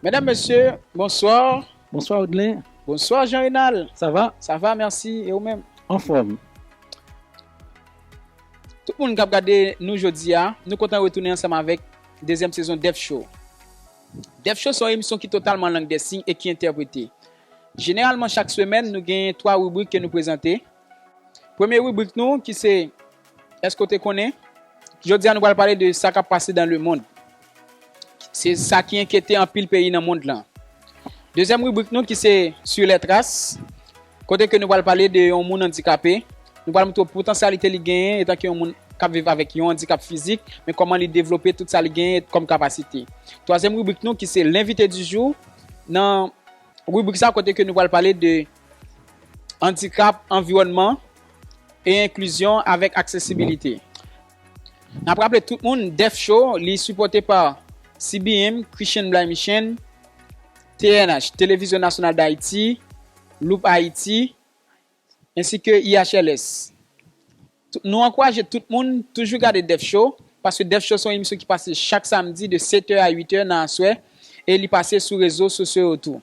Medam mesye bonsoir. Bonsoir Odelin. Bonsoir Jean Renal. Sa va? Sa va merci e ou menm? Anfòm. Tout moun kap gade nou jodia nou kontan retounen ansanm avèk dezyèm sezon Def show. Dèf Cho se yon emisyon ki totalman an lang dè siy e ki entèprete. Jeneralman chak semèn nou genyen 3 ribrik ke nou prezante. Premye ribrik nou ki se Eske w te konnen? Jodi a nou pral pale de sa k ap pase dan le mond. Se sa ki enkyete anpil peyi nan mond lan. Dezyèm ribrik nou ki se Sur les traces. Kote ke nou pral pale de yon moun andikape, nou pral montre w potansyalite li genyen etanke yon moun k ap viv avèk yon andikap fizik, men kòman li devlope tout sa li genyen kòm kapasite. Twazyèm ribrik nou ki se L'invité du jour, nan ribrik sa kote ke nou pral pale de andikap, anviwònman e enklizyon avèk aksesibilite. Nap raple tout moun Def Show li sipòte pa CBM, Christian Blay Michen, TNH, Televizyon Nasyonal Dayiti, Loop Haiti, ensi ke IHLS. Nou ankouraje tout moun toujou gade Def Show, paske Def Show se yon emisyon ki pase chak samdi de 7 è a 8 è nan aswè e li pase sou rezo sosyo yo tou.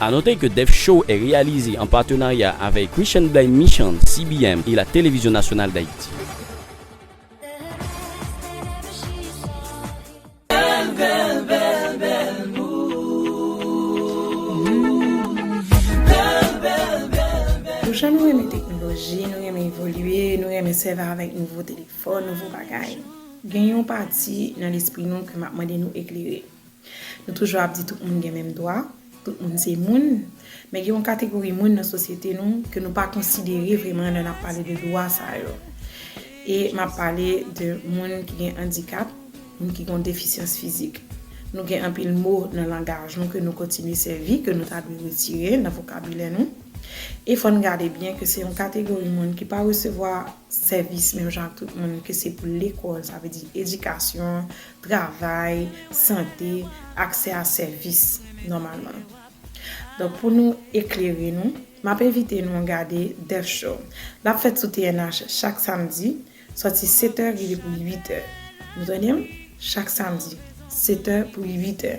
A note ke Def Show est réalisé en partenariat avec Christian Blay Mission, CBM et la Télévision Nationale d'Haïti. Nou chak nou renmen teknoloji, nou renmen evolye, nou renmen sèvi avèk nouvo telefòn, nouvo bagay. Gen yon pati nan lespri nou ke m ap mande nou eklere. Nou toujou ap di tout moun gen menm dwa, tout moun se moun, men gen yon kategori moun nan sosyete nou ke nou pa konsidere vreman lè nap pale de dwa sa yo. E map pale de moun ki gen andikap, moun ki gen yon defisyans fizik. Nou gen anpil mo nan langaj nou ke nou kontinye sèvi, ke nou ta dwe retire nan vokabilè nou. E fò n gade byen ke se yon kategori moun ki pa resevwa sèvis menm jan ak tout moun, ke se pou lekòl, sa vle di edikasyon, travay, sante, aksè a sèvis nòmalman. Donk pou nou eklere nou, m ap envite nou gade Death Show. L ap fèt sou TNH chak samdi, sòti setè rive pou uitè. Nou tande m? Chak samdi, setè pou uitè.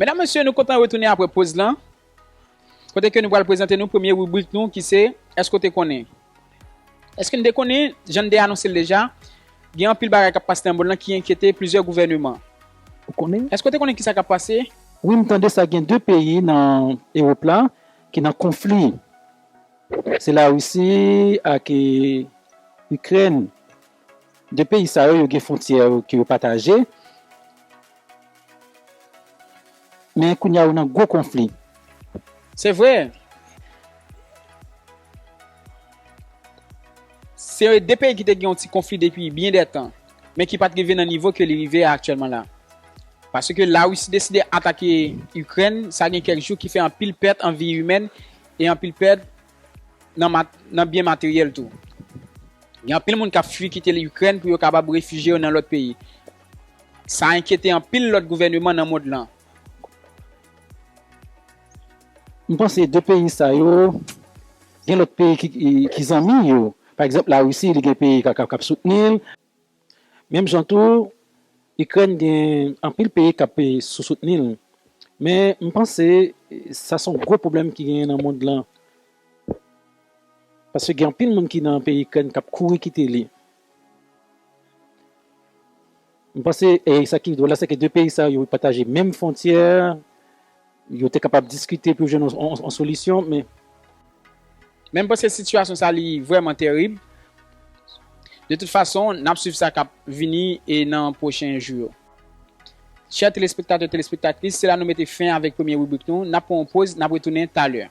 Medam mesye nou kontan retounen apre poz lan kote ke nou pral prezante nou premye ribrik nou ki se Èske w te konnen? Eske n te konnen, jan n te anonse l deja, gen anpil bagay k ap pase nan monn lan ki enkyete plizyè gouvèneman? Ou konnen? Eske w te konnen ki sa k ap pase? Wi, m tande sa gen 2 peyi nan Ewop la ki nan konfli. Se Larisi ak Ikrèn. De peyi sa yo, yo gen fwontyè ke yo pataje, men kounye a yo nan gwo konfli. Se vre, se de peyi ki te gen yon ti konfli depi byen de tan, men ki pa t rive nan nivo ke li rive a aktyèlman la. Paske Larisi deside atake Ikrèn, sa gen kèk jou, ki fè anpil pèt an vi imèn e anpil pèt nan byen materyèl tou. Gen anpil moun k ap fui kite Likrèn pou yo kapab refije yo nan lòt peyi. Sa enkyete anpil lòt gouvèneman nan mond lan. M panse 2 peyi sa yo gen lòt peyi ki zanmi yo. Pa egzanp, Larisi li gen peyi k ap soutni l. Menm jan tou, Ikrèn gen anpil peyi k ap sou soutni l, men m panse sa s on gwo pwoblèm ki genyen nan mond lan, paske gen anpil moun ki nan peyi Ikrèn k ap kouri kite li. M panse sa ki dwòl la se ke 2 peyi sa yo pataje menm fwontyè, Yo te kapab diskite pou yo jwenn yon solisyon, men. Men m panse sitiyasyon sa li vrèman terib. De tout fason, n ap swiv sa k ap vini nan pwochen jou yo. Chè telespektatè, telespektatris, se la nou mete fen avèk premye ribrik nou. N ap pran yon poz, n ap retounen talè.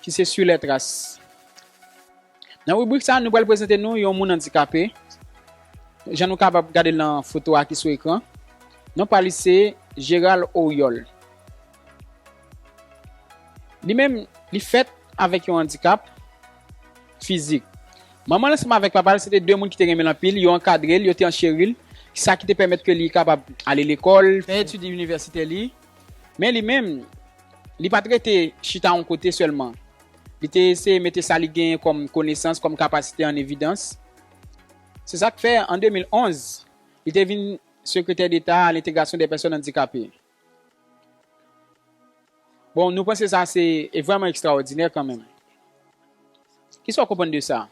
ki se Sui lè tras. Nan ribrik sa, nou pral prezante nou yon moun andikape, jan nou kapab gade l nan foto a ki sou ekran. Non pa li se Gérald Oriol. Li menm, li fèt avèk yon andikap fizik. Manman l ansanm avèk papa l se te 2 moun ki te renmen l anpil, yo ankadre l, yo te ancheri l, sa ki te pèmèt ke li kapab ale lekòl, fè etid inivèsitè li, Men li menm, li pa t rete chita yon kote sèlman. Li te eseye mete sa li genyen kòm konesans, kòm kapasite an evidans. Se sa k fè, an 2011, li te vin Sekretè Deta a Lentegrasyon dè Pèsòn Andikape. Bon, nou panse sa se vrèman ekstraòdinè kanmenm. Ki sa w konprann de sa?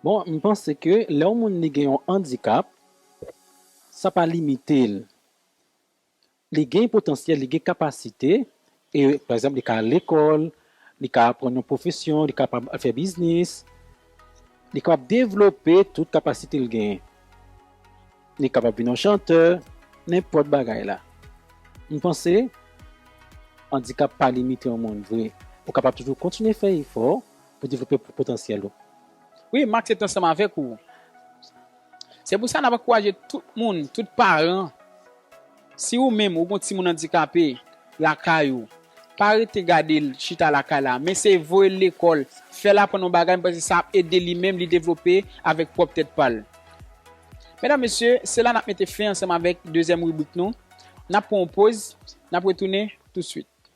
Bon, m panse ke lè yon moun li gen yon andikap, sa pa limite l li gen potansyèl, li gen kapasite, e pa egzanp li ka al lekòl, li ka aprann yon pwofesyon, li kapab fè biznis, li kapab devlope tout kapasite l genyen. Li kapab vin yon chantè, nenpòt bagay la. M panse andikap pa limite yon moun vre. Ou kapab toujou kontinye fè efò pou devlope potansyèl ou. Wi, m aksepte ansanm avèk ou. Se pou sa n ap ankouraje tout moun, tout paran, si ou menm ou gen yon timoun andikape lakay ou, pa rete gade l chita lakay la, men se voye l lekòl, fè l aprann yon bagay, paske sa ap ede li menm li devlope avèk pwòp tèt pa l. Medam, mesye, se la n ap mete fen ansanm avèk dezyèm ribrik nou. N ap pran yon poz, n ap retounen tousuit.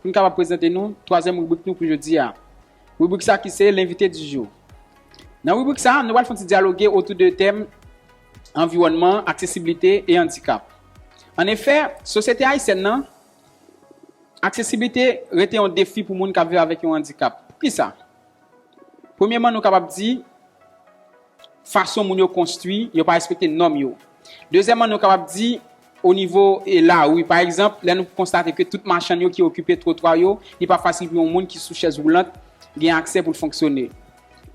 Pou n kapab prezante nou twazyèm ribrik nou pou jodi a. Ribrik sa ki se L'invité du jour. Nan ribrik sa, nou pral fon ti dyaloge otou de tèm anviwònman, aksesiblite e andikap. An efè, sosyete ayisyèn nan, aksesiblite rete yon defi pou moun k ap viv avèk yon andikap. Poukisa? Premyeman nou kapab di. fason moun yo konstwi, yo pa respekte nòm yo. Dezyèman, nou kapab di o nivo lari, pa egzanp, lè nou konstate ke tout machann yo ki okipe twotwa yo, li pa fasil pou yon moun ki sou chèz woulant gen aksè pou l fonksyone.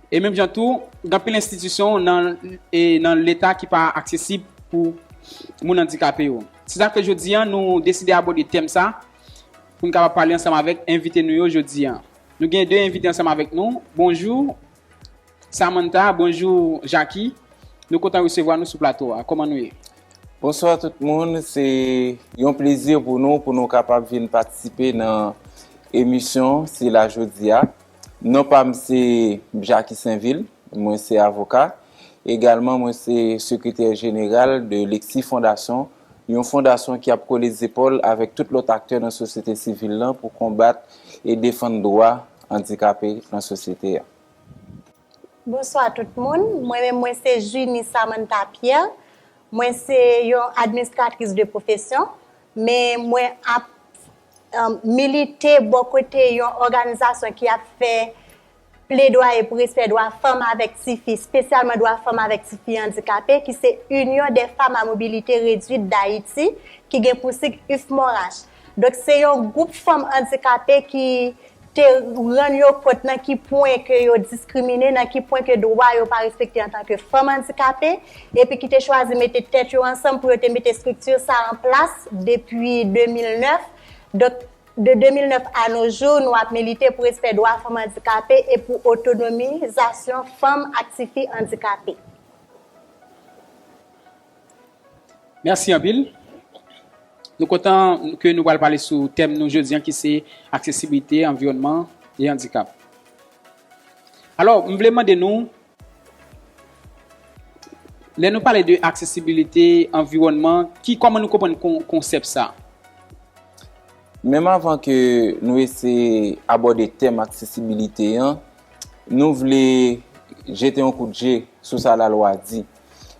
E menm jan tou, gen anpil enstitisyon nan Leta ki pa aksesib pou moun andikape yo. Se sa k fè jodi a, nou deside abòde tèm sa pou n kapab pale ansanm avèk envite nou yo jodi a. Nou gen de envite ansanm avèk nou. Bonjou. Samantha, Bonjou Jaki, nou kontan resevwa nou sou plato a. Kòman nou ye? Bonswa tout moun, se yon plezi pou nou pou nou kapab vin patisipe nan emisyon sila jodi a. Non pa m se Jacky Sainvil, mwen se avoka. Egalman mwen se sekretè jeneral de Lexi Fondasyon, yon fondasyon ki ap kole zepòl avèk tout lòt aktè nan sosyete sivil lan pou konbat e defann dwa andikape nan sosyete a. Bonswa tout moun, mwen menm mwen se Junie Samantha Pierre, mwen se yon administratris de pwofesyon, men mwen ap milite bò kote yon òganizasyon ki ap fè pledwaye pou respè dwa fanm avèk tifi, spesyalman dwa fanm avèk tifi andikape ki se Union des femmes à mobilité réduite d'Haïti ki gen pou sig UFMORAH. Donk se yon gwoup fanm andikape ki te rann yo kont nan ki pwen ke yo diskrimine, nan ki pwen ke dwa yo pa respekte antan ke fanm andikape, epi ki te chwazi mete tèt yo ansanm pou yo te mete estrikti sa a an plas depi 2009. Donk, de 2009 a no jou, nou ap milite pou respè dwa fanm andikape e pou otonomizasyon fanm ak tifi andikape. Mèsi anpil. Nou kontan ke nou pral pale sou tèm nou jodi an ki se aksesibilite, anviwònman e andikap. Alò, m vle mande nou, lè nou pale de aksesibilite, anviwònman, ki kòman nou konprann konsèp sa? Menm avan ke nou eseye abòde tèm aksesibilite an, nou vle jete yon kout je sou sa lalwa di.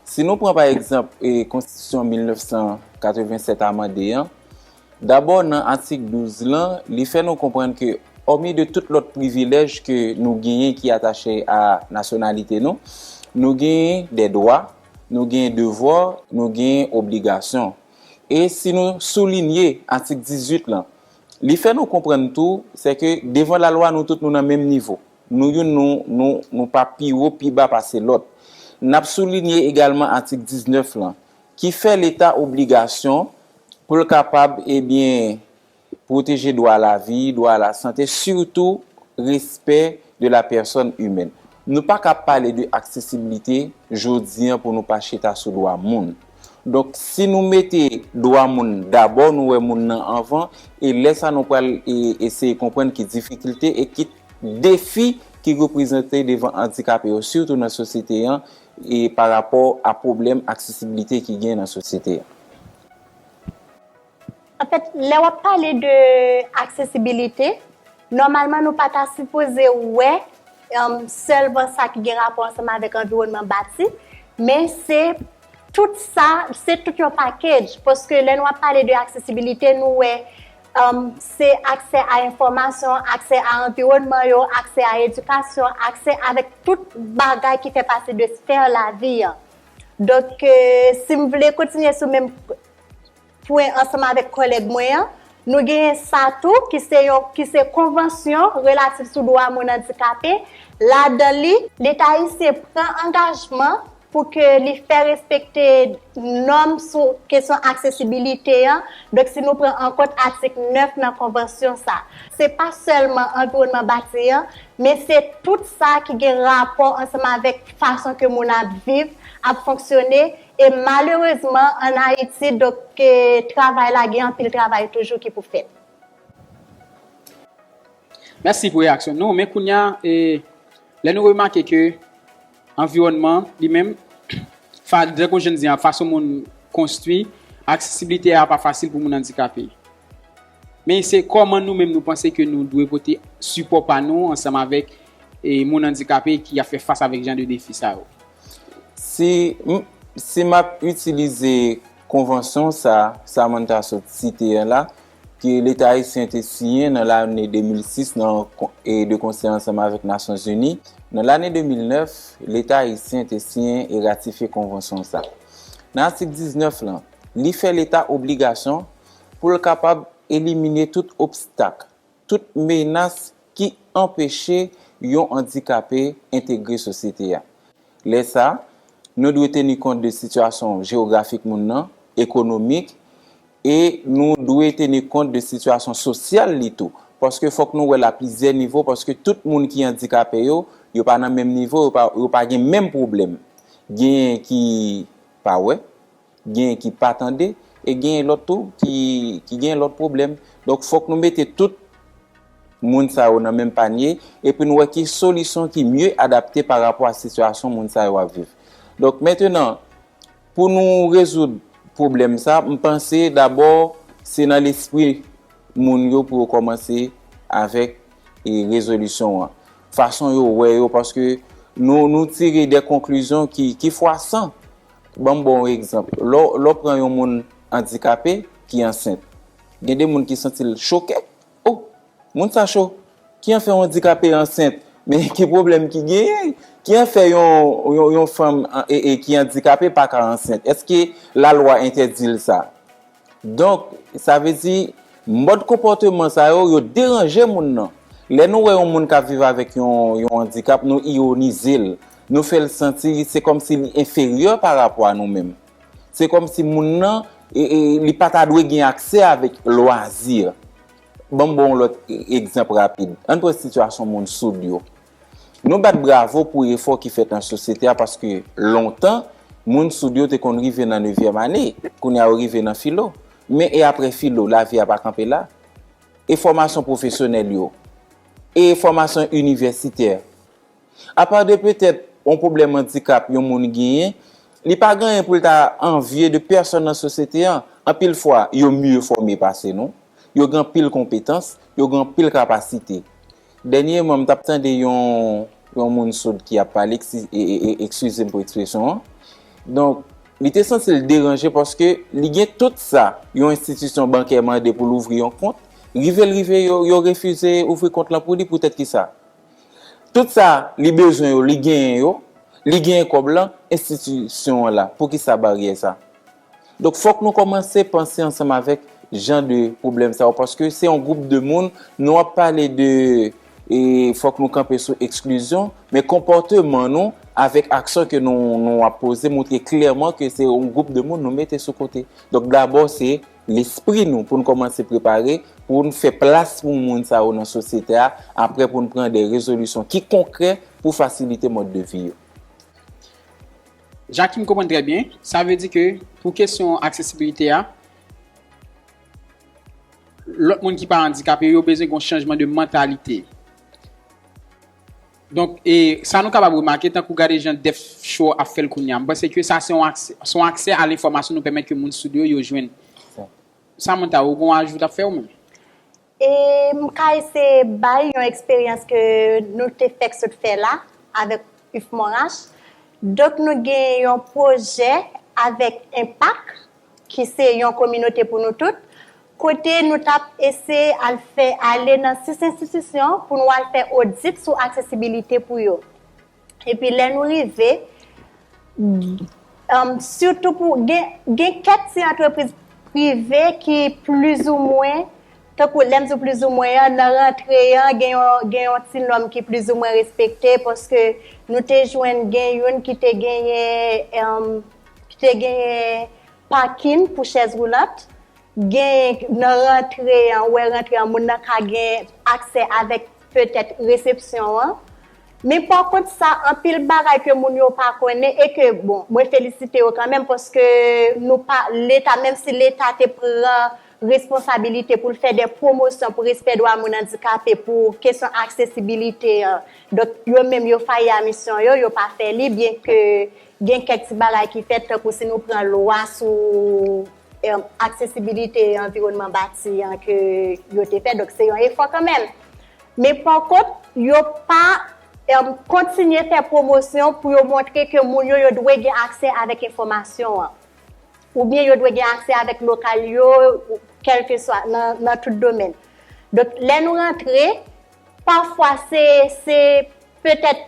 Si nou pran pa egzanp konstitisyon 1987 amande an, dabò nan atik 12 lan li fè nou konprann ke òmi de tout lòt privilèj ke nou genyen ki atache a nasyonalite nou, nou genyen dè dwa, nou genyen devwa, nou genyen obligasyon. E si nou soulinye atik 18 lan, li fè nou konprann tou sè ke devan lalwa nou tout nou nan menm nivo. Nou youn nou, nou, nou pa pi wo, pi ba pase lòt. N ap soulinye egalman atik 19 lan, ki fè Leta obligasyon pou l kapab, ebyen, pwoteje dwa a lavi, dwa a lasante, sitou respè de la pèsòn imèn. Nou pa ka pale de aksesiblite jodi an pou nou pa chita sou dwa moun. Donk, si nou mete dwa moun dabò, nou wè moun nan anvan, e lè sa nou pral eseye konprann ki difikilte e ki. Defi ki reprezante devan andikape yo sitou nan sosyete an e pa rapò a pwoblèm aksesibilite ki gen nan sosyete an. Anfèt, lè w ap pale de aksesibilite, nòmalman nou pa ta sipoze wè sèlman sa ki gen rapò ansanm avèk anviwònman bati, men se tout sa, se tout yon pakedj paske lè nou ap pale de aksesibilite nou wè se aksè a enfòmasyon, aksè a anviwònman yo, aksè a edikasyon, aksè avèk tout bagay ki fè pati de sfè lavi an. Donk, si m vle kontinye sou menm pwen ansanm avèk kòlèg mwen an, nou genyen sa tou ki se yon, ki se konvansyon relatif sou dwa moun andikape, ladan li, Leta ayisyen pran angajman pou ke li fè respekte nòm sou kesyon aksesibilite an, donk si nou pran an kont atik 9 nan konvansyon sa. Se pa sèlman anviwònman bati an, men se tout sa ki gen rapò ansanm avèk fason ke moun ap viv, ap fonksyone, e malerezman an Ayiti, donk travay la gen anpil travay toujou ki pou fèt. Mèsi pou reyaksyon nou, men kounya, lè nou remake ke Anviwònman, li menm, fa dè kou je n di a, fason moun konstwi, aksesibilite a pa fasil pou moun andikape. Men se kòman nou menm nou panse ke nou dwe pote sipò pa nou ansanm avèk e moun andikape ki ap fè fas avèk jan de defi sa yo. Si m, si m ap itilize konvansyon sa a, Samantha sot site a la, ke leta ayisyen te siyen nan lane 2006 nan e de konsè ansanm avèk Nasyon Zini, nan lane 2009, leta ayisyen te siyen e ratifye konvansyon sa. Nan atik 19 lan, li fè leta obligasyon pou l kapab elimine tout obstak, tout menas ki anpeche yon andikape entegre sosyete a. Lè sa, nou dwe teni kont de sitiyasyon jewografik moun nan, ekonomik, E nou dwe teni kont de sitiyasyon sosyal li tou. Paske fòk nou wè l a plizyè nivo, paske tout moun ki andikape yo, yo pa nan menm nivo, yo pa gen menm pwoblèm. Genyen ki pa wè, genyen ki pa tande, e genyen lòt tou ki genyen lòt pwoblèm. Donk fòk nou mete tout moun sa yo nan menm panye, epi nou wè ki solisyon ki mye adapte pa rapò a sitiyasyon moun sa yo ap viv. Donk mentenan, Pou nou rezoud pwoblèm sa, m panse dabò se nan lespri moun yo pou yo kòmanse avèk rezolisyon an. Fason yo wè yo paske nou tire de konklizyon ki fwasan. Ban m ba w yon egzanp. Lè w pran yon moun andikape ki ansent, gen de moun ki santi l choke. Oh! Moun sa cho! Ki anfè yon andikape ansent? Men ki pwoblèm ki genyen? Ki anfè yon fanm ki andikape pa ka ansent? Eske lalwa entèdi l sa? Donk, sa vle di, mòd konpòteman sa yo, yo deranje moun nan. Lè nou wè yon moun k ap viv avèk yon andikap, nou ironize l. Nou fè l santi se kòmsi li enferyè parapò a nou menm. Se kòm si moun nan, li pa ta dwe gen aksè avèk lwazi. Ban m ba w yon lòt egzanp rapid. An n pran sitiyasyon moun soud yo. Nou bat bravo pou efò ki fèt nan sosyete a paske lontan, moun soud yo te konn rive nan nevyèm ane. Kounye a yo rive nan filo. Men e apre filo? Lavi a pa kanpe la. E fòmasyon pwofesyonèl yo? E fòmasyon inivèsitè? Apa de petèt yon pwoblèm andikap yon moun genyen, li pa gen anyen pou l ta anvye de pèsòn nan sosyete an. Anpil fwa, yo mye fòme pase nou, yo gen anpil konpetans, yo gen anpil kapasite. Dènyeman, m t ap tande yon yon moun soud ki ap pale, ekskize m pou ekspresyon an. Donk, li te santi l deranje paske li gen tout sa yon enstitisyon bankè mande pou l ouvri yon kont, rive l rive yo refize ouvri kont lan pou li poutèt kisa? Tout sa li bezwen yo li genyen yo, li genyen kòb lan, enstitisyon an la, poukisa baryè sa? Donk fòk nou kòmanse panse ansanm avèk jan de pwoblèm sa yo paske se yon gwoup de moun nou ap pale de fòk nou kanpe sou eksklizyon men konpòteman nou avèk aksyon ke nou ap poze moutre klèman ke se yon gwoup de moun nou mete sou kote. Donk dabò se. lespri nou pou n kòmanse prepare pou n fè plas pou moun sa yo nan sosyete a apre pou n pran de rezolisyon ki konkrè pou fasilite mòd de vi yo. Jakim konprann trè byen, sa vle di ke pou kesyon aksesibilite a, lòt moun ki pa andikape yo bezwen gen yon chanjman de mantalite. Donk, e sa nou kapab remake, tankou gade jan Def Show ap fè l kounye a. M panse ke sa se yon aksè, se yon aksè a lenfòmasyon nou pèmèt ke moun soud yo, yo jwenn. Samantha, ou gen yon ajou w t ap fè ou menm? E m ka eseye bay yon eksperyans ke nou te fèk sot fè la avèk UF Monrach. Donk nou gen yon pwojè avèk Enpak ki se yon kominote pou nou tout kote nou t ap eseye al fè ale nan sis enstitisyon pou nou al fè odit sou aksesibilite pou yo. Epi lè nou rive, sitou pou, gen kèk ti antrepriz prive ki plizoumwen, tankou lè m di w plizoumwen an, nan rantre an gen yon ti nòm ki plizoumwen respekte paske nou te jwenn gen youn ki te genyen, ki te genyen pakin pou chèz woulant. Gen nan rantre an, ou wè rantre an, moun nan ka gen aksè avèk petèt resepsyon an. Men pa kont sa, anpil bagay ke moun yo pa konnen e ke, bon, mwen felisite yo kan menm paske nou pa, leta, menm si leta te pran responsabilite pou l fè de pwomosyon pou respè dwa moun andikape, pou kesyon aksesibilite an, donk yo menm yo fayi a misyon yo, yo pa fè li, byen ke gen kèk ti bagay ki fèt tankou si nou pran lwa sou aksesibilite anviwònman bati an ke yo te fè, donk se yon efò kanmenm. Men pa kont, yo pa kontinye fè pwomosyon pou yo montre ke moun yo, yo dwe gen aksè avèk enfòmasyon an. Ou byen yo dwe gen aksè avèk lokal yo, kèlkeswa, nan tout domèn. Donk, lè nou rantre, Pafwa se, se, petèt,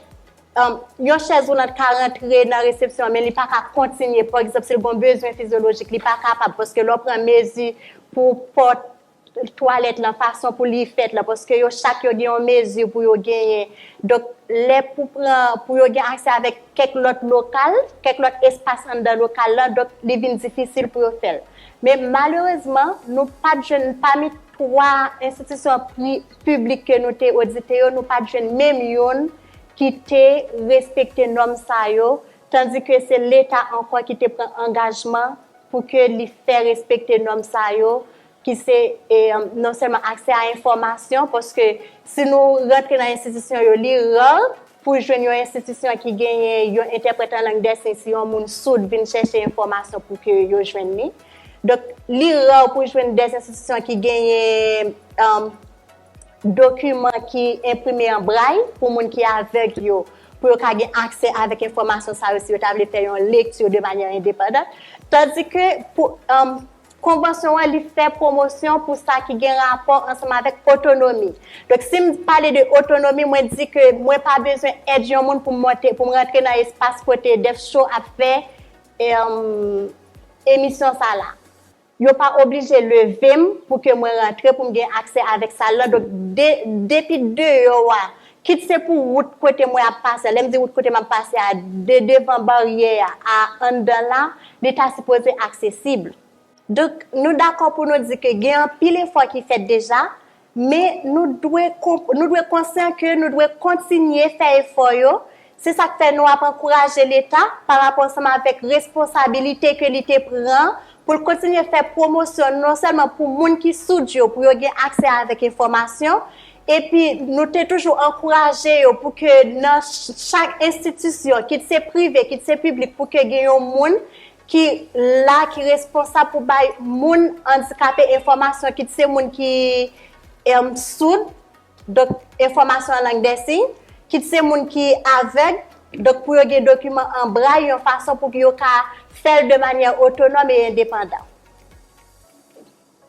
yon chèz woulant ka rantre nan resepsyon an men li pa ka kontinye, pa egzanp, si l gen yon bezwen fizyolojik, li pa kapab paske lè w pran mezi pou pòt twalèt lan, fason pou li fèt lan, paske yo chak yo gen yon mezi pou yo genyen. Donk, lè pou pran, pou yo gen aksè avèk kèk lòt lokal, kèk lòt espas anndan lokal lan, donk li vin difisil pou yo fè l. Men malerezman, nou pa t jwenn pami twa enstitisyon pri. piblik ke nou te odite yo, nou pat jwenn menm youn ki te respekte nòm sa yo, tandi ke se Leta ankò ki te pran angajman pou ke li fè respekte nòm sa yo, ki se non sèlman aksè a enfòmasyon, paske si nou rantre nan enstitisyon yo, li rar Pou jwenn yon enstitisyon ki genyen yon entèprèt an lang dè siy si yon moun soud vin chèche enfòmasyon pou ke yo jwenn li. Donk, li ra pou w jwenn de enstitisyon ki genyen dokiman ki enprime an bray pou moun ki avèg yo, pou yo ka gen aksè avèk enfòmasyon sa yo si yo ta vle fè yon lekti de manyè endepandant. Tandike, pou. Konvansyon an li fè pwomosyon pou sa ki gen rapò ansanm avèk otonomi. Donk si m pale de otonomi, mwen di ke mwen pa bezwen èd yon moun pou m monte, pou m rantre nan espas kote Def Show ap fè emisyon sa la. Yo pa oblije leve m pou ke mwen rantre pou m gen aksè avèk sal lan. Donk depi deyò a, Kit se pou wout kote mwen ap pase a, lè m di wout kote m ap pase a, de devan baryè a a anndan la, li ta sipoze aksesib. Donk, nou dakò pou nou di ke gen anpil efò ki fèt deja, men nou dwe nou dwe konsyan ke nou dwe kontinye fè efò yo Se sa k fè nou ap ankouraje Leta, pa rapò ansanm avèk responsabilite ke li te pran, pou l kontinye fè pwomosyon non sèlman pou moun ki soud yo, pou yo gen aksè avèk enfòmasyon, epi nou te toujou ankouraje yo pou ke nan chak enstitisyon, kit se prive, kit se piblik, pou ke gen yon moun ki la, ki responsab pou bay moun andikape enfòmasyon, kit se moun ki soud. Donk, enfòmasyon an lang dè siy, kit se moun ki avèg, donk pou yo gen dokiman an bray yon fason pou yo ka fè l de manyè otonòm e endepandan.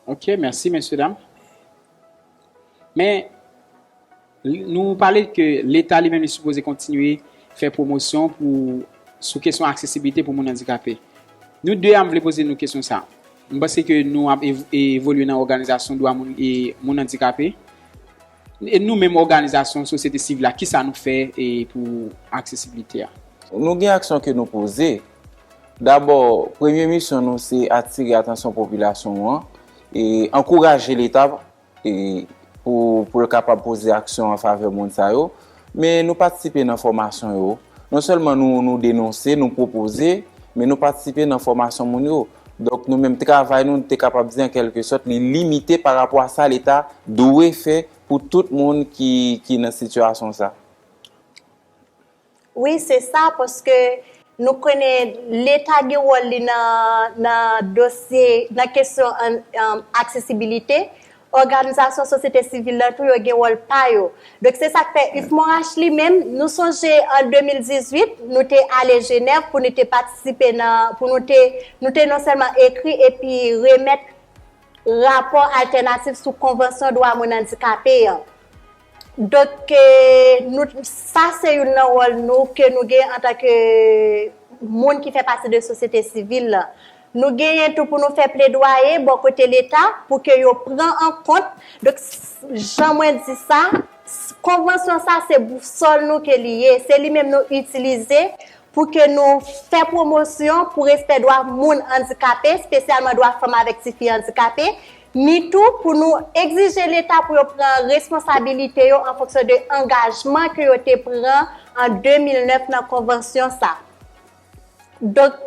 Ok, mèsi mesye dam. Men, nou pale ke leta li menm li sipoze kontinye fè pwomosyon pou sou kesyon aksesiblite pou moun andikape. Nou 2 a m vle poze nou kesyon sa. M panse ke nou ap evolye nan òganizasyon dwa moun e moun andikape. E nou menm òganizasyon sosyete sivil la, kisa nou fè pou aksesibilite a? Nou gen aksyon ke nou poze. Dabò, premye misyon nou se atire atansyon popilasyon an e ankouraje leta e pou l kapab poze aksyon an favè moun sa yo, men nou patisipe nan fòmasyon yo, non sèlman nou denonse, nou pwopoze, men nou patisipe nan fòmasyon moun yo, donk nou menm travay nou, nou te kapab di an kèlke sòt li limite pa rapò a sa leta dwe fè pou tout moun ki nan sitiyasyon sa. Wi se sa paske nou konnen leta gen wòl li nan dosye nan kesyon aksesibilite, òganizasyon sosyete sivil la tou yo gen wòl pa yo. Donk se sa k fè UFMOH li menm nou sonje an 2018 nou te ale Jenèv pou nou te patisipe nan pou nou te nou te non sèlman ekri epi remèt rapò altènatif sou konvansyon dwa moun andikape an. Donk ke nou, sa se youn nan wòl nou ke nou gen antan ke moun ki fè pati de sosyete sivil la. Nou genyen tou pou nou fè pledwaye bò kote leta pou ke yo pran an kont, donk jan mwen di sa, konvansyon sa se bousòl nou ke li ye, se li menm nou itilize pou ke nou fè pwomosyon pou respè dwa moun andikape, spesyalman dwa fanm avèk tifi andikape, ni tou pou nou egzije Leta pou yo pran responsabilite yo an fonksyon de angajman ke yo te pran an 2009 nan konvansyon sa. Donk,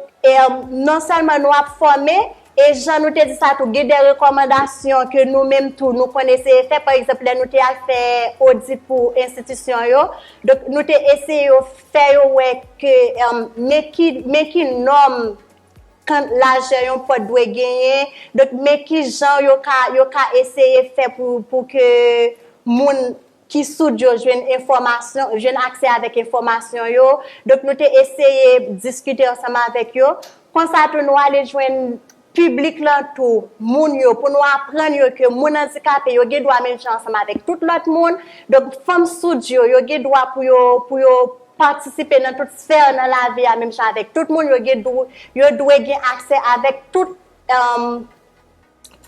non sèlman nou ap fòme, e jan nou te di sa tou, gen de rekòmandasyon ke nou menm tou nou konn eseye fè, pa egzanp, lè nou te al fè odit pou enstitisyon yo, donk nou te eseye yo fè yo wè ke men ki nòm Kant lajè yon pòt dwe genyen, donk men ki jan yo ka, yo ka eseye fè pou, pou ke moun ki soud yo jwenn enfòmasyon, jwenn aksè avèk enfòmasyon yo. Donk nou te eseye diskite ansanm avèk yo. Konsa tou nou ale jwenn piblik lan tou, moun yo, pou nou aprann yo ke moun andikape yo gen dwa menm jan ansanm avèk tout lòt moun. Donk fanm soud yo, yo gen dwa pou yo, pou yo. patisipe nan tout sfè nan lavi a menm jan avèk tout moun, yo gen dwe, yo dwe gen aksè avèk tout,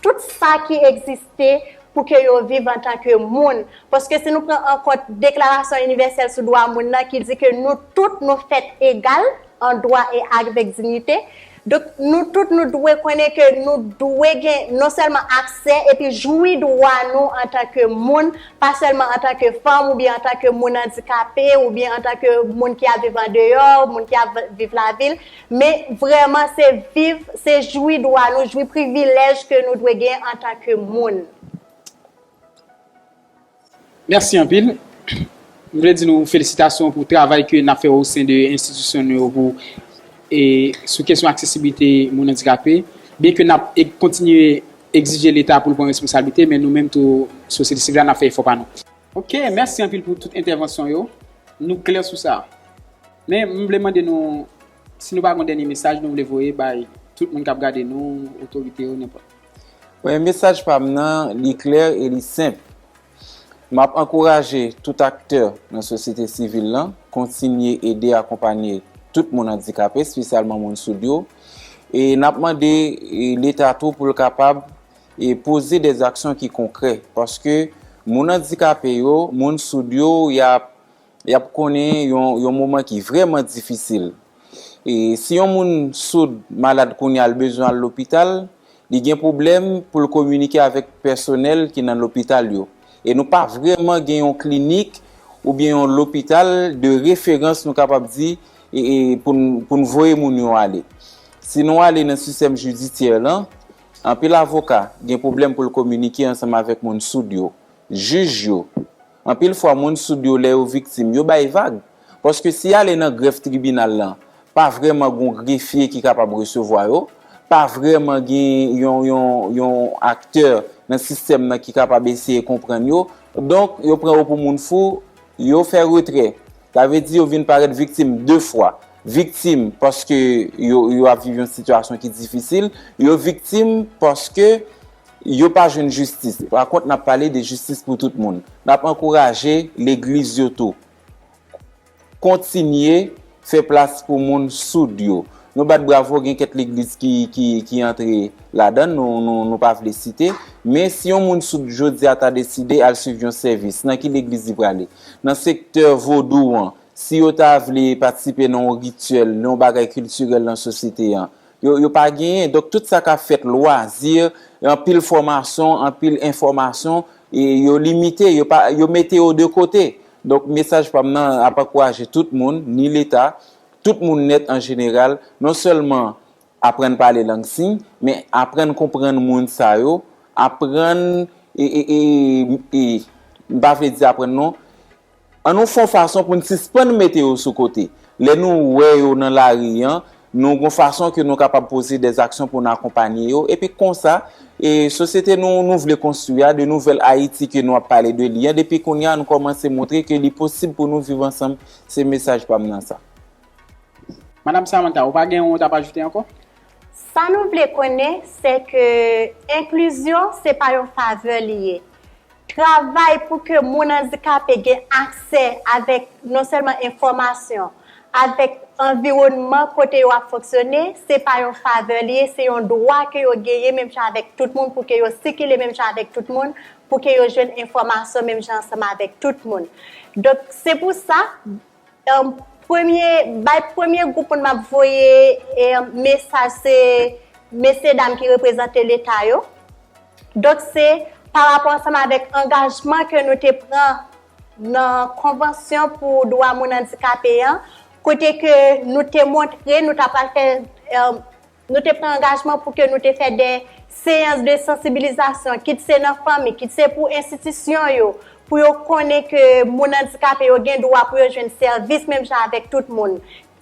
tout sa ki egziste pou ke yo viv antan ke moun. Paske si nou pran an kont Deklarasyon Inivèsèl sou Dwa Moun nan ki di ke nou tout nou fèt egal an dwa e avèk dignite, Donk, nou tout nou dwe konnen ke nou dwe gen non sèlman aksè epi jwi dwa nou antanke moun, pa sèlman antanke fanm oubyen antanke moun andikape oubyen antanke moun ki ap viv andeyò, moun ki ap viv lavil, men vrèman se viv, se jwi dwa nou, jwi privilèj ke nou dwe gen antanke moun. Mèsi anpil. M vle di nou felisitasyon pou travay ke nap fè osen de enstitisyon nou yo pou sou kesyon aksesiblite moun andikape. Byen ke nap kontinye egzije leta pou l pran responsablite men nou menm tou sosyete sivil la nap fè efò pa nou. Ok mèsi anpil pou tout entèvansyon yo. Nou klè sou sa. Men m vle mande nou si nou pa gon dènye mesaj nou vle voye bay tout moun kap gade nou, otorite yo nenpòt. Premye mesaj pa m nan, li klè e li senp. M ap ankouraje tout aktè nan sosyete sivil lan kontinye ede akonpanye tout moun andikape, spesyalman moun soud yo. E n ap mande Leta tou pou l kapab poze de zaksyon ki konkrè. Paske moun andikape yo, moun soud yo, y ap. Y ap konnen yon moman ki vrèman difisil. E si yon moun soud malad kounye a l bezwen al lopital, li gen pwoblèm pou l kominike avèk pèsonèl ki nan lopital yo. E nou pa vrèman gen yon klinik oubyen yon lopital de referans nou kapab di pou n voye moun yo ale. Si nou ale nan sistèm jidisyè lan, anpil avoka gen pwoblèm pou l kominike ansanm avèk moun soud yo, jij yo. Anpil fwa moun soud yo lè yo viktim yo bay vag, paske si ale nan grèf tribinal lan pa vrèman gon grefye ki kapab resevwa yo, pa vrèman gen yon yon yon aktè nan sistèm nan ki kapab eseye konprann yo, donk yo pran yo pou moun fou, yo fè retrè. Sa vle di yo vin parèt viktim 2 fwa, viktim paske yo yo ap viv yon sitiyasyon ki difisil, yo viktim paske. yo pa jwenn jistis. Pa kont, n ap pale de jistis pou tout moun. N ap ankouraje legliz yo tou kontinye fè plas pou moun soud yo. Nou bat bravo, gen kèk legliz ki antre ladan, nou pa vle site. Men, si yon moun soud jodi a ta deside al suiv yon sèvis, nan ki legliz li prale? Nan sektè vodou an, si yo ta vle patisipe nan yon rityèl, nan yon bagay kiltirèl nan sosyete an, Yo yo pa genyen donk tout sa kap fèt lwazi anpil fòmason anpil enfòmason e yo limite yo pa yo mete yo de kote donk mesaj pam nan ap ankouraje tout moun ni leta tout moun nèt an jeneral non sèlman aprann pale lang siy men aprann konprann moun sa yo aprann e e e e m pa vle di aprann non. An nou fè yon fason pou n sispann mete yo sou kote. Lè nou wè yo nan lari an, nou gen yon fason ke nou kapab poze dè aksyon pou n akonpanye yo, epi konsa, e sosyete nou nou vle konstwi a, de nouvèl Ayiti ke nou ap pale de li an, depi kounye a nou kòmanse montre ke li posib pou nou viv ansanm, se mesaj pa m nan sa. Madam Samantha, ou pa gen ou tap ajoute ankò? Sa nou vle konnen se ke enklizyon se pa yon favè li ye. Travay pou ke moun andikape gen aksè avèk non sèlman enfòmasyon, avèk anviwònman kote yo ap fonksyone, se pa yon favè li ye, se yon dwa ke yo genyen menm jan avèk tout moun pou ke yo sikile menm jan avèk tout moun, pou ke yo jwenn enfòmasyon menm jan ansanm avèk tout moun. Donk, se pou sa, Premye bay premye gwoup moun map voye mesaj se mesye dam ki reprezante leta yo. Donk se pa rapò ansanm avèk angajman ke nou te pran nan konvansyon pou dwa moun andikape an kote ke nou te montre nou ta pral fè Nou te pran angajman pou ke nou te fè de seyans de sansibilizasyon, kit se nan fanmi, kit se pou enstitisyon yo, pou yo konnen ke moun andikape yo gen dwa pou yo jwenn sèvis menm jan avèk tout moun.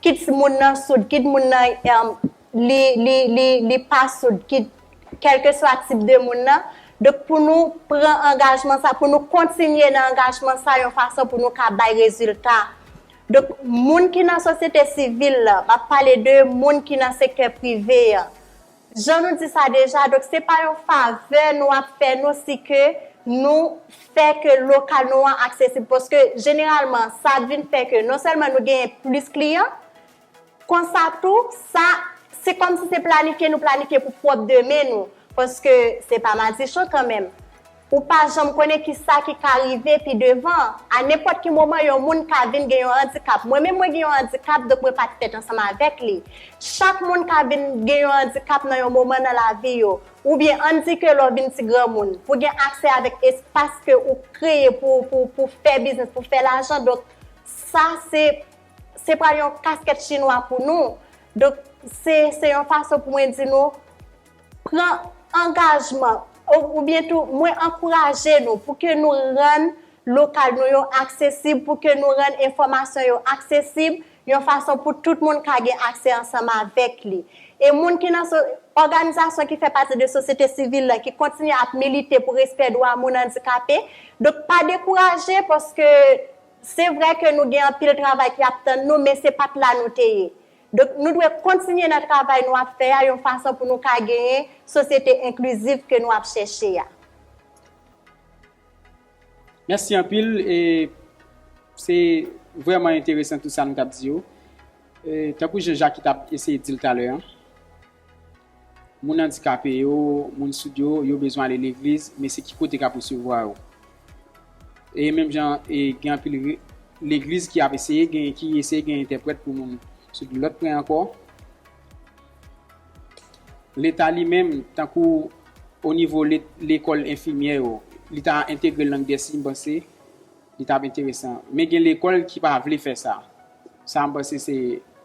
Kit moun nan soud, kit moun nan li pa soud, kit kèlkeswa tip de moun nan. Donk pou nou pran angajman sa, pou nou kontinye nan angajman sa yon fason pou nou ka bay rezilta. Donk, moun ki nan sosyete sivil la, m ap pale de moun ki nan sektè prive a. Jan nou di sa deja, donk se pa yon favè nou ap fè nou si ke nou fè ke lokal nou an aksesib. Paske jeneralman, sa ap vin fè ke non sèlman nou genyen plis kliyan, konsa tou, sa, se kòmsi se planifye nou planifye pou pwòp demen nou. Paske se pa madichon kanmenm. Ou pa janm konnen ki sa ki ka rive pi devan. A nenpòt ki moman yon moun ka vin gen yon andikap. Mwen menm mwen gen yon andikap donk mwen pa t fèt ansanm avèk li. Chak moun ka vin gen yon andikap nan yon moman nan lavi yo. Oubyen ann di ke lè w vin ti granmoun, pou gen aksè avèk espas ke ou kreye pou pou pou fè biznis, pou fè lajan donk sa se se pral yon kaskèt chinwa pou nou. Donk se se yon fason pou mwen di nou pran angajman oubyen tou mwen ankouraje nou pou ke nou rann lokal nou yo aksesib, pou ke nou rann enfòmasyon yo aksesib, yon fason pou tout moun ka gen aksè ansanm avèk li. E moun ki nan òganizasyon ki fè pati de sosyete sivil la ki kontinye ap milite pou respè dwa moun andikape, donk pa dekouraje paske se vre ke nou gen anpil travay ki ap tann nou men se pat la nou te ye. Donk nou dwe kontinye nan travay nou ap fè a yon fason pou nou ka genyen sosyete enkliziv ke nou ap chèche a. Mèsi anpil e se vrèman enteresan tout sa nou tap di yo. Tankou jan Jacky tap eseye dil talè an. Moun andikape yo, moun soud yo, yo bezwen ale legliz, men se ki kote k ap resevwa yo? E menm jan e gen anpil legliz ki ap eseye gen ki eseye gen entèprèt pou moun soud. Lòt pwen ankò, Leta li menm, tankou o nivo lekòl enfimyè yo, li ta entegre lang dè siy m panse li t ap enteresan. Men gen lekòl ki pa vle fè sa. Sa m panse se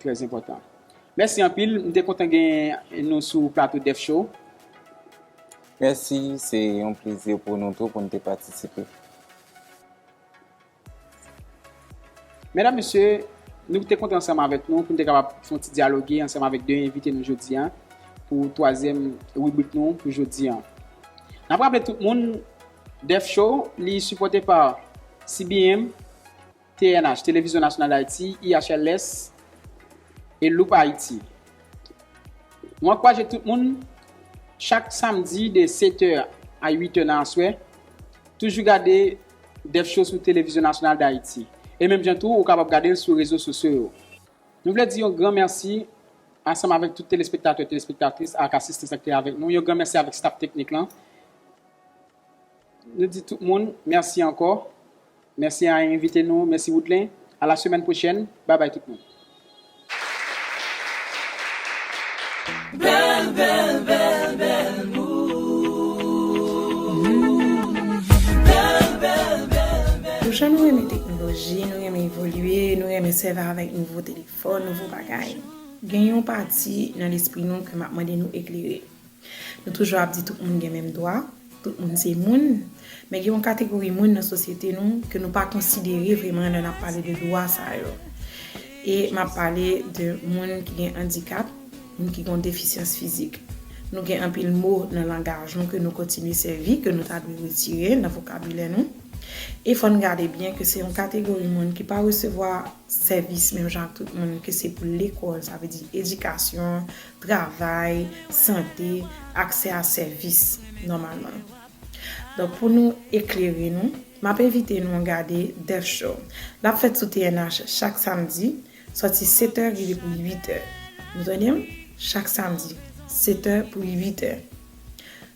trèzenpòtan. Mèsi anpil, m te kontan gen nou sou plato Def Show. Mèsi, se yon plezi pou nou tou pou n te patisipe. Medam, mesye, nou te kontan ansanm avèk nou pou n te kapab fè yon ti dyaloge ansanm avèk 2 envite nou jodi a pou twazyèm ribrik nou pou jodi a. N ap raple tout moun, Def Show, li sipòte pa CBM. TNH, Télévision Nationale d'Haïti, IHLS, e Loop Haïti. Nou ankouraje tout moun, chak samdi de 7 è a 8 è nan aswè, toujou gade Def Show sou Télévision Nationale d'Haïti. E menm jan tou, ou kapab gade l sou rezo sosyo yo. Nou vle di yon gran mèsi, ansanm avèk tout telespektatè, telespektatris ak asistans ak te avèk nou. Yon gran mèsi avèk staf teknik lan. Nou di tout moun merci ankò. Mèsi a envite nou, mèsi Woodlen. A la semèn pwochèn. Bye bye tout moun. Bèl bèl bèl bèl Nou jan nou renmen teknoloji, nou renmen evolye, nou renmen sèvi avèk nouvo telefòn, nouvo bagay. Gen yon pati nan lespri nou ke m ap mande nou eklere. Nou toujou ap di tout moun gen menm dwa, tout moun se moun, men gen yon kategori moun nan sosyete nou ke nou pa konsidere vreman lè nap pale de dwa sa yo. E map pale de moun ki gen andikap, moun ki gen yon defisyans fizik. Nou gen anpil mo nan langaj nou ke nou kontinye sèvi, ke nou ta dwe retire nan vokabilè nou. E fò n gade byen ke se yon kategori moun ki pa resevwa sèvis menm jan ak tout moun, ke se pou lekòl, sa vle di edikasyon, travay, sante, aksè a sèvis nòmalman. Donk pou nou eklere nou, m ap envite nou gade Death Show. L ap fèt sou TNH chak samdi, sòti setè rive pou uitè. Nou tande m? Chak samdi, setè pou uitè.